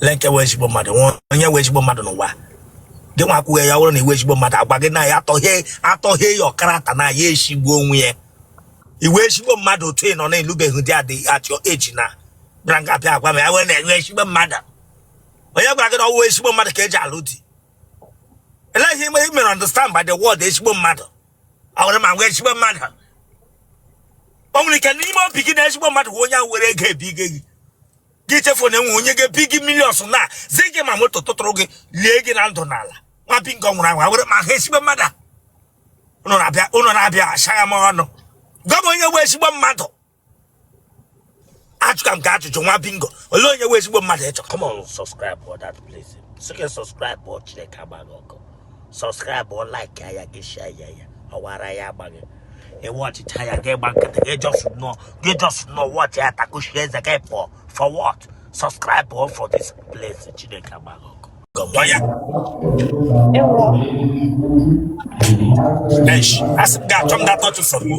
lee nke wụ ezigbo mmadụ nwa onye wụ ezigbo mmadụ n'ụwa gị nwa akwụghị ya wụrụ na ị wụ ezigbo mmadụ agwa gị na ya atọghị atọghị ya ọkarata na ya eshigbuo onwe ya ị wụ ezigbo mmadụ otu ị nọ na-alụbeghị di adị atị eji na bịara nga bịa agwa m ya wee na enwe ezigbo mmadụ onye gwara gị na ọ wụ ezigbo mmadụ ka eji alụ di elee ihe ime mere understand by the word ezigbo mmadụ a wụrụ m nwa ezigbo mmadụ o nwere ike n'ime obi gị na ezigbo mmadụ bụ onye ahụ were ego ebigo gị gị chefuo na enwe onye ga-ebi gị millions na zụ gị ma moto tụtụrụ gị lie gị na ndụ n'ala nwa bingo nwụrụ anwụ awere ma ha ezigbo mmadụ a ụnụ na-abịa ụnụ na-abịa achọgha m ụnụ gwa m onye wụ ezigbo mmadụ ajụgha m gị ajụjụ nwa bingo olee onye wụ ezigbo mmadụ ịchọ Come on, subscribe for that place. Second subscribe for Chineke agbaa gị ọkụ. subscribe or like ya gị share ya ya forward ya agbaghị ị watchịcha ya gị gba nkịtị gị just nọ gị just nọ watch ya takuchie eze gị pụọ for what subscribe or for this place chineke agbaa gị ọkụ Eish, asị m ga-achọ m datọchụ from you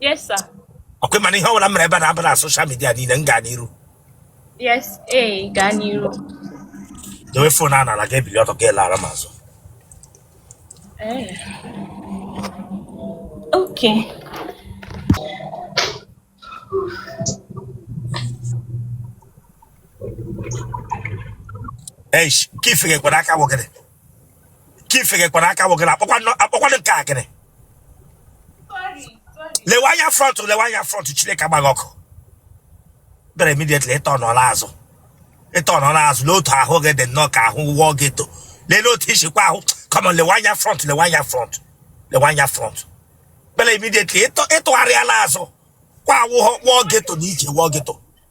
Yes, sir. ọkwa ị ma na ihe ọbụla m mere ebe a na-abụ na social media niile m gaa n'iru Yes, ee, gaa n'iru. dowe phone a n'ala gị ebili ọtọ gị alara m azụ Ee. Okay. eish ka ife ga-ekwere aka gwọgịrị ka ifegekwara aka wogara akpọkwanụ nke akịrị lewe anya front lewe anya front chineke agbaa gị ọkụ bịara immediately ịtọ n'ọla azụ ịtọ n'ọla azụ n'otu ahụ gị dị nnọọ ka ahụ wụọ geto lelee otu isikwa ahụ kọmọ lewe anya front lewe anya front lewe anya front bịara immediately ị tụgharịala azụ kwa awụghọ wụọ geto na ije wụọ geto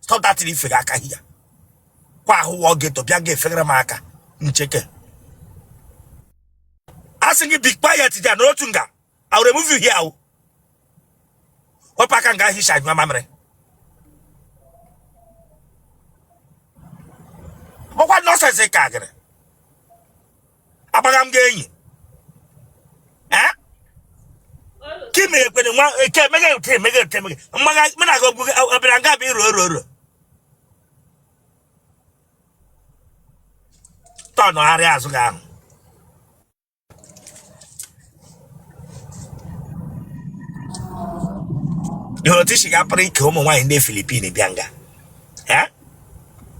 stop that thing i fega aka hia kwa ahụ wụọ geto bịa ga efegara m aka ncheke asị gị be quiet there na otu nga I will remove you here o wepụ aka nga hicha nyụọ mamịrị ọkwa nonsense ị ka gịrị akpagha m gị enyi ka ime ekwere nwa eke emeghe ute emeghe ute emeghe mmaga mụ na-aga ogbugo ọ bịara nga bụ iro oro oro tọnụgharịa azụ gị ahụ ịhụrụ otu i si gapụrụ ike ụmụ nwaanyị ndị filipin bịa nga Eh?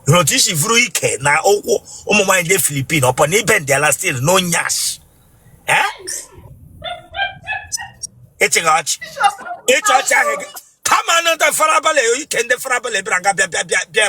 ịhụrụ otu i si vuru ike na ụkwụ ụmụ nwaanyị ndị filipin upon ị bendị ala still no nyash Eh? ịchịghị ọchị ịchị ọchị ahụ gị kama na ndị farabalị ike ndị farabalị bịara nga bịa bịa bịa bịa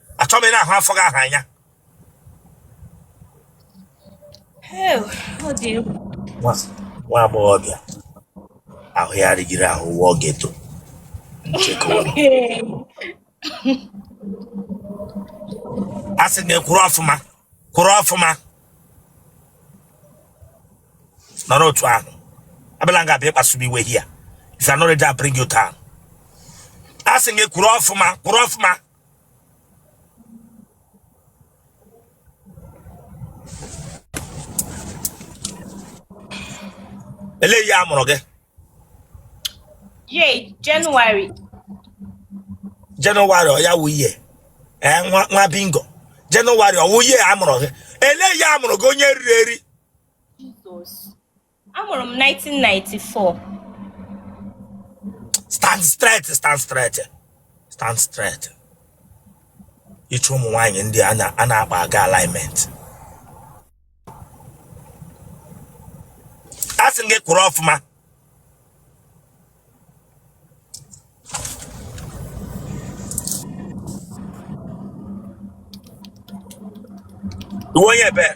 achọ m ahụ afọ gị ahụ anya nwa agbọghọbịa ahụ ya rịgiri ahụ wụọ geto a sị m gị kwụrụ ọfụma kwụrụ ọfụma nọrọ otu ahụ abịala nga bịa kpasu m iwe here if you're not ready, I'll bring you down. Asị gị kwụrụ ọfụma kwụrụ ọfụma ele ihe a mụrụ gị ye jenụwarị jenụwarị ọ ya wụ ihe ee nwa nwa bingo jenụwarị ọwụ ihe a mụrụ gị ele ihe a mụrụ gị onye riri eri jizọs Amụrụ m 1994. Stand straight, stand straight, stand straight. Ịchụ ụmụ nwaanyị ndị a na- a na-akpa aga alignment. A sị m gị kwụrụ ọfụma. Ị wụ onye ebee?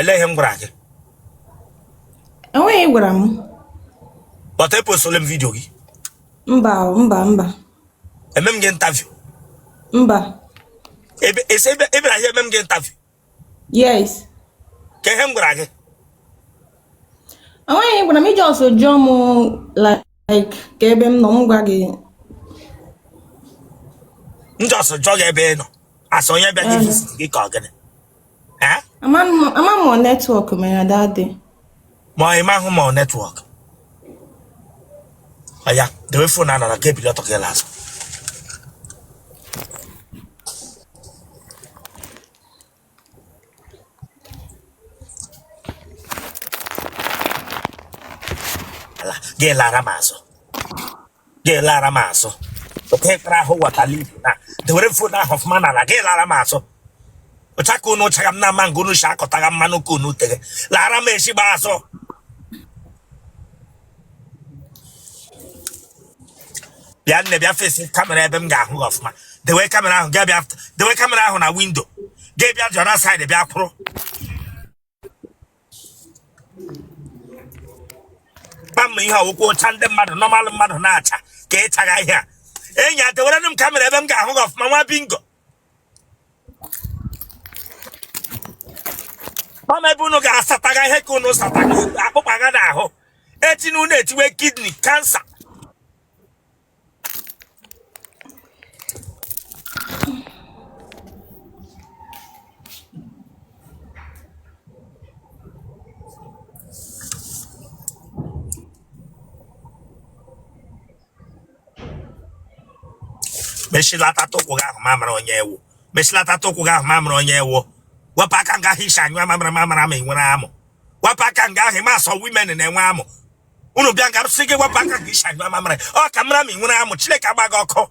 Ele ihe m gwara gị? Enweghị ihe ị gwara m. But e postole m video gị. Mba mba mba. Eme m gị interview. Mba. Ebe ese ebe ebe na ihe eme m gị interview. Yes. Kee ihe m gwara gị? Enweghị ihe ị gwara m ị just jụọ m like. like kee ebe m nọ m gwa gị m just jụọ gị ebe ị nọ asị onye bịa gị Ee. visit gị ka ọ gịnị Eh? ama m ama m ọ network mere dadị ma ọ ịma ahụ ma ọ network oya dewe phone a n'ala ka i bili ọtọ gị laa azụ gị lara m azụ gị lara m azụ oke kpara ahụ watala ibu na dewere phone ahụ ọfụma n'ala gị lara m azụ ụcha ka unu chaga m na ama nke unu si akọtaga mmanụ ka unu tere lara m ezigbo azụ bịa nne bịa face kamera ebe m ga-ahụ gị ọfụma dewe kamera ahụ gaa bịa dewe kamera ahụ na windo gị bịa jọna side bịa kwụrụ kpam ihe ọ wụkwa ụcha ndị mmadụ normal mmadụ na-acha ka ị chaga ihe a enyi a dewerenu m kamera ebe m ga-ahụ gị ọfụma nwa bingo ọ ma ebe unu ga-asataga ihe ka unu sataga akpụkpa ga n'ahụ echi na unu etiwe kidney cancer mechilata ụkwụ gị ahụ m amara onye ị wụ mechilata ụkwụ gị ahụ m amara onye ị wụ wepụ aka nga ahụ ị si anyụ mamịrị m amara ma ị nwere amụ wepụ aka nga ahụ ị ma some women na-enwe amụ unu bịa nga sị gị wepụ aka nga ị si anyụ mamịrị ka m mara ma ị nwere amụ chineke agba gị ọkụ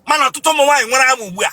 mana ọtụtụ ụmụ nwaanyị nwere amụ ugbu a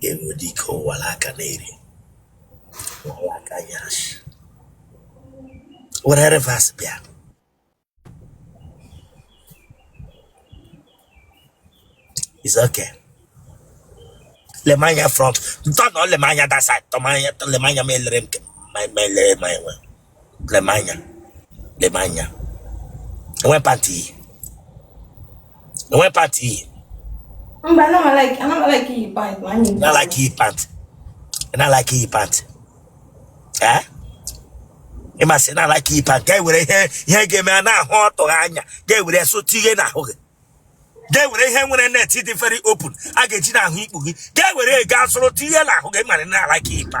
ga-enwe ụdị ike ụwara aka na-eri ụwara aka ya shi were reverse bịa is okay lee m anya front tọnụọ lee m anya that side tọmanya lee m anya ma elere m ke- ma ma elere ma enwe lemanya lemanya enwe pati iyi enwe pati iyi mba anaghị iyi pati anaghị iyi pati anaghị iyi pati ee ịmasị na alaka ipa nke ewere ihe ihe ga-eme a na-ahụ ọtụghị anya ga-ewere sụtụ ihe n'ahụ gị ga-ewere ihe nwere net dị very open a ga-eji n'ahụ ikpu gị ga-ewere ego asụrụ tinye n'ahụ gị mara na alaka ipa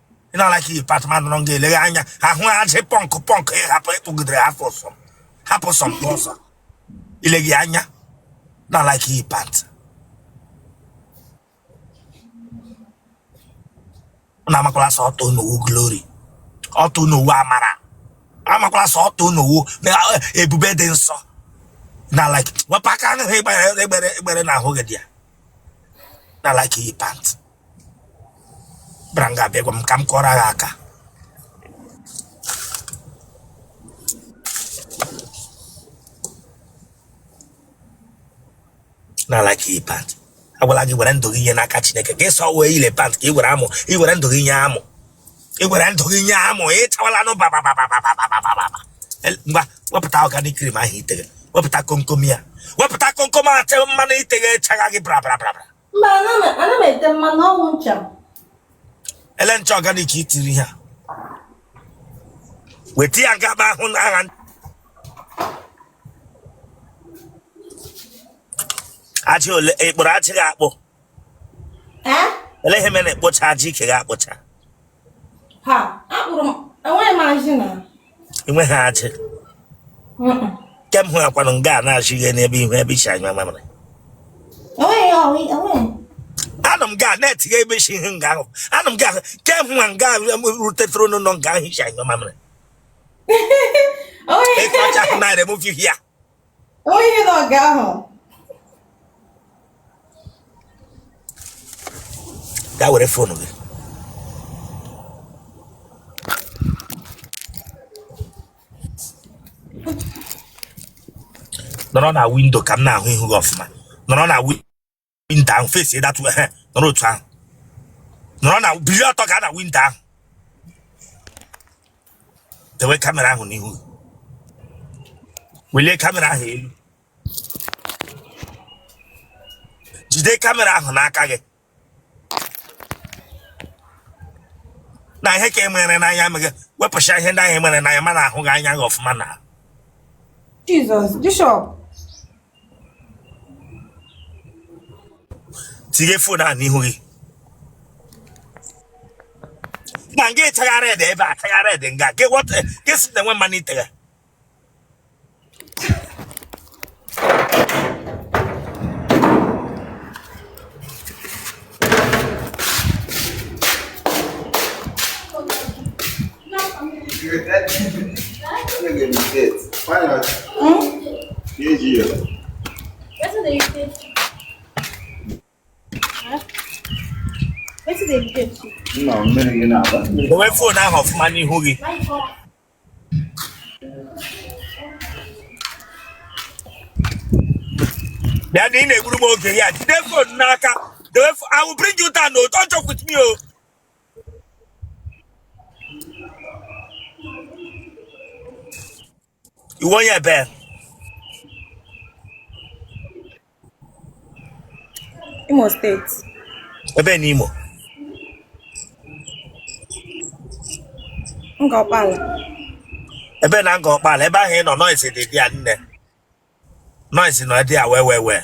ị na like iyi pant ma nọrọ nga eleghe anya ahụ ajị pọnkụ pọnkụ ị hapụ ịkpụgidere hapụ sọ hapụ sọ mkpụ ọsọ ileghi anya na like iyi pant na amakwala sọ ọtọ ị nọ wụ glory ọtọ ị nọ wụ amara amakwala sọ ọtọ ị nọ wụ ebube dị nsọ na like wepụ aka ahụ egbere egbere egbere na ahụ gị dị ya na like iyi pant bara nga abịagwa m ka m kọrọ gị aka na like iyi pant agwala gị were ndụ gị nye n'aka chineke ka ịsọ wee ile pant ka ị were amụ ị were ndụ gị nye amụ ị were ndụ gị nye amụ ị chawala nụ babababababababa ngwa wepụta organic cream ahụ i teghe wepụta komkom ya wepụta komkom ahụ te mmanụ i teghe echaghị gị brabra brabra mba ana m ete mmanụ ọ wụ ncha ele ncha ọganik itiri ha weta ya gaba ahụ na agha ajị ole ị kpụrụ ajị gị akpụ ele ihe mere na ị kpụcha ajị ike gị akpụcha ha akpụrụ m enweghị m ajị na enweghị ajị kem hụ akwanụ nga a na-achụ ihe n'ebe ihu ebe isi anya mamịrị anụ m ga na-etinye ebe isi ihe nga ahụ anụ m ga kem hụ nga rutetụrụ n'ụlọ nga ahụ isi anya mamịrị efe ọcha ahụ na-ere m ofi ya Onye nọ nga ahụ. Gaa were fonu gị. Nọrọ na windo ka m na-ahụ ihu gị ọfụma. Nọrọ na windo. windo ahụ fesi datụ ehe nọrọ otu ahụ nọrọ na biri ọtọ ga na windo ahụ dewe kamera ahụ n'ihu welie kamera ahụ elu jide kamera ahụ n'aka gị na ihe ka e mere n'anya meghị wepụcha ihe ndị ahụ e mere n'anya m na-ahụ gị anya gị ọfụma na Jizọs bishọp tinye fon a n'ihu gị na nga ị chagha red ebe a chagha red nga gị wọta gị si na enwe mmanụ ị tegha Dowe fon ahụ ọfụma n'ihu gị. Bịa na ị na-egburu m oge ya jide fon n'aka. I will bring you down. No, don't joke with me. Oh. ị wụ onye ebee Imo steeti ebee n'Imo Ngor Okpala ebee na Ngor Okpala ebe ahụ ị nọ noise dị dị ya nne noise na-ada wee wee wee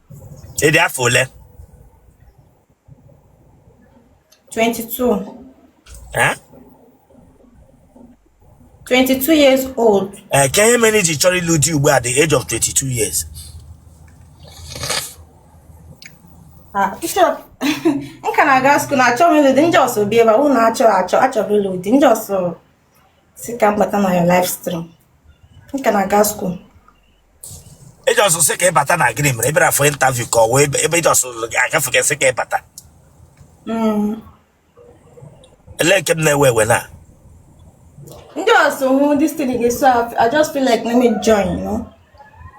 ị dị afọ ole 22 Eh? 22 years old ee kee ihe mere i ji chọrọ ịlụ di ugbu a at the age of 22 years Ah, bishop m ka na-aga skuul achọghị m ịlụ di m just bịa ebe a unu achọghị achọ achọghị ịlụ di m just sị ka m bata na your live stream m ka na-aga skuul ị just sị ka ị bata na gịnị mere ị bịara for interview ka ọ wee ebe ị just na-agafe gị sị ka ị bata Mm, ele nke m na-ewe ewe na m just hụ this thing dey so I- i just feel like let me join you know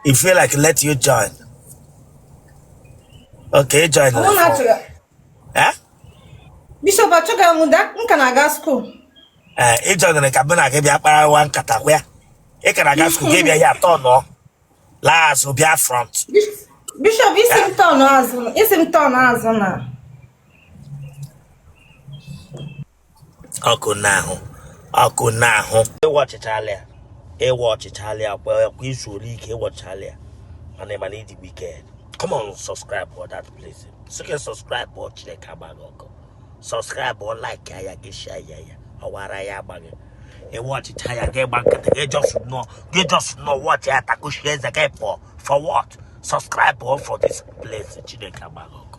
you feel like let you join okay ị join mụ na-achọrọ Eh? bishọp achọghị m ịlụ di m ka na-aga skuul Ee, ị jọgịrị ka mụ na gị bịa kparawa nkata kwa ya ị ka na-aga skuul gị bịa ya turn laa azụ bịa front bishọp ị sị m turn azụ ị sị m turn azụ na ọkụ n'ahụ ọkụ n'ahụ ị watchịchala ya ị watchịchala ya kwa kwa ị zuola ike ị watchịchala ya mana ị ma na ị dị wicked come on subscribe for that place sike subscribe for chineke agba gị ọkụ subscribe for like ya gị share ya ya ọwara ya agba gị ị watchịcha ya gị gba nkịtị gị just nọ gị just nọ watch ya takushie eze gị pụọ for what subscribe for for this place chineke agba gị ọkụ